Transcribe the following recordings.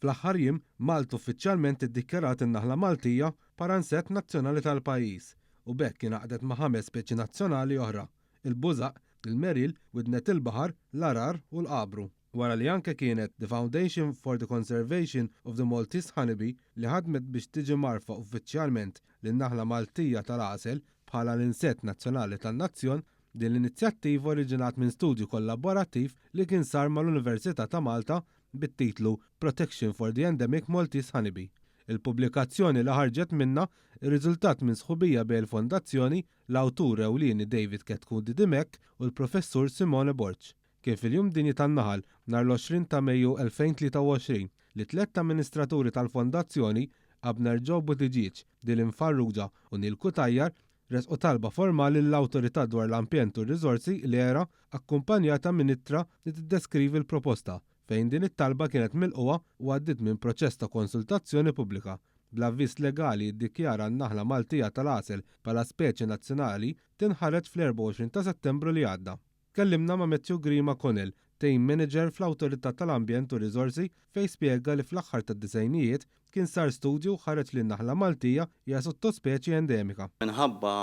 Fl-aħħar jiem, Malta uffiċjalment iddikjarat in-naħla Maltija bħala nsett nazzjonali tal-pajjiż u b'hekk ingħaqdet ma' ħames speċi nazzjonali oħra, il-bużaq, il-meril, widnet il-baħar, l-għarar u l-għabru. Wara li anke kienet The Foundation for the Conservation of the Maltese Honeybee li ħadmet biex tiġi mgħarrfa uffiċjalment lin-naħla Maltija tal-għasel bħala l-insett nazzjonali tan-nazzjon, din l-inizjattiva oriġinat minn studju kollaborattiv li kien sar mal-Università ta' Malta bit-titlu Protection for the Endemic Maltese Honeybee. Il-pubblikazzjoni li ħarġet minnha rriżultat minn sħubija bejn il-Fondazzjoni, l-awtur ewlieni David Ketkundi Dimech u l-Professur Simone Borg. Kien fil-Jum Dinji tan-Naħal, nhar l-20 ta' Mejju 2023, li tlett amministraturi tal-Fondazzjoni, Abner Joe Buttigieg, Dylan Farrugia u Neil Cutajar, ressqu talba formali lill-Awtorità dwar l-Ambjent u r-Riżorsi, l-ERA, akkumpanjata minn ittra li tiddeskrivi l-proposta, fejn din it-talba kienet milqugħa u għaddiet minn proċess ta' konsultazzjoni pubblika. Bl-avviż legali jiddikjara n-naħla Maltija tal-għasel bħala speċi nazzjonali tinħared fl-24 ta' Settembru li għadda. Tkellimna ma' Matthew Grima Connell, Team Manager fl-Awtorità tal-Ambjent u r-Riżorsi, fejn spjega li fl-aħħar tad-disgħinijiet kien sar studju u ħareġ li n-naħla Maltija hija sottospeċi endemika. Minħabba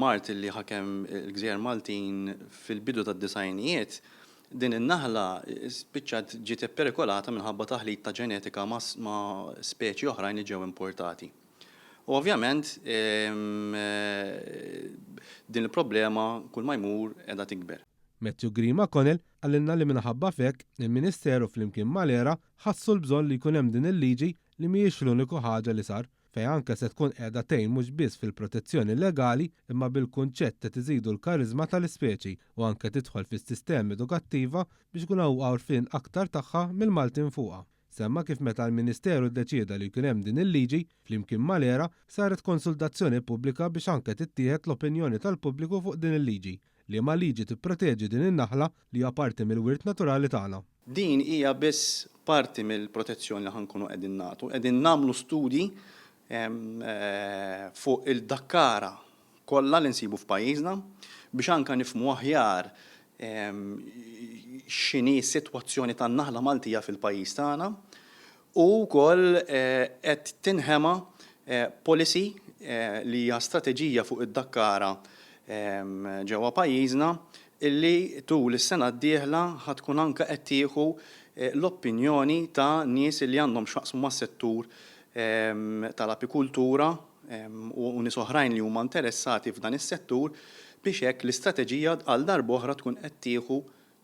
mard li ħakem il-gżejjer Maltin fil-bidu tad-disgħinijiet, din in-naħla spiċċat ġiet ipperikolata minħabba taħlit ta' ġenetika ma' speċi oħrajn li ġew importati. U ovvjament din il-problema kull ma jmur qiegħda tikber. Matthew Green McConnell qalilna li minħabba f'hekk, il-Ministeru flimkien mal-ERA ħassu l-bżonn li jkun hemm din il-liġi li mhijiex l-uniku ħaġa li sar, fejn anke se tkun qiegħda tgħin mhux biss fil-protezzjoni legali imma bil-kunċett qed iżidu l-kariżma tal-ispeċi u anke tidħol fis-sistema edukattiva biex ikun hawn għarfien aktar tagħha mill-Maltin fuqha. Semma kif meta l-Ministeru ddeċieda li jkun hemm din il-liġi, flimkien mal-ERA, saret konsultazzjoni pubblika biex anke tittieħed l-opinjoni tal-pubbliku fuq din il-liġi, liema liġi tipproteġi din in-naħla li hija parti mill-wirt naturali tagħna. Din hija biss parti mill-protezzjoni li ħa nkunu qegħdin nagħtu. Qegħdin nagħmlu studji fuq il-dakkara kollha li nsibu f'pajjiżna biex anke nifhmu aħjar x'inhi s-sitwazzjoni tan-naħla Maltija fil-pajjiż tagħna u wkoll qed tinħema policy li hija strateġija fuq id-dakkara ġewwa pajjiżna li tul is-sena d-dieħla ħa tkun anke qed tieħu l-opinjoni ta' nies li għandhom x'jaqsmu mas-settur tal-apikultura u nies oħrajn li huma interessati f'dan is-settur biex hekk l-istrateġija għal darb'oħra tkun qed tieħu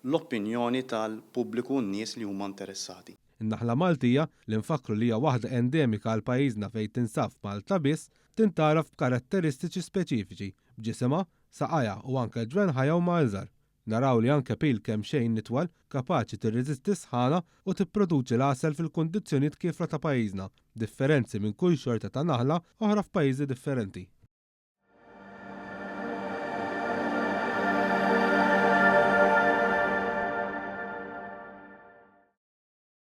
l-opinjoni tal-pubbliku u n-nies li huma interessati. In-naħla Maltija, li nfakkru li hija waħda endemika għal pajjiżna fejn tinsab f'Malta biss, tintgħaraf b'karatteristiċi speċifiċi, b'ġisimha, saqajha u anke ġwenħajha huma iżgħar. Naraw li anke pil kemxejn itwal kapaċi tirreżisti s-sħana u tipproduċi l-għasel fil-kundizzjonijiet kiefra ta' pajjiżna, b'differenzi minn kull xorta ta' naħla oħra f'pajjiżi differenti.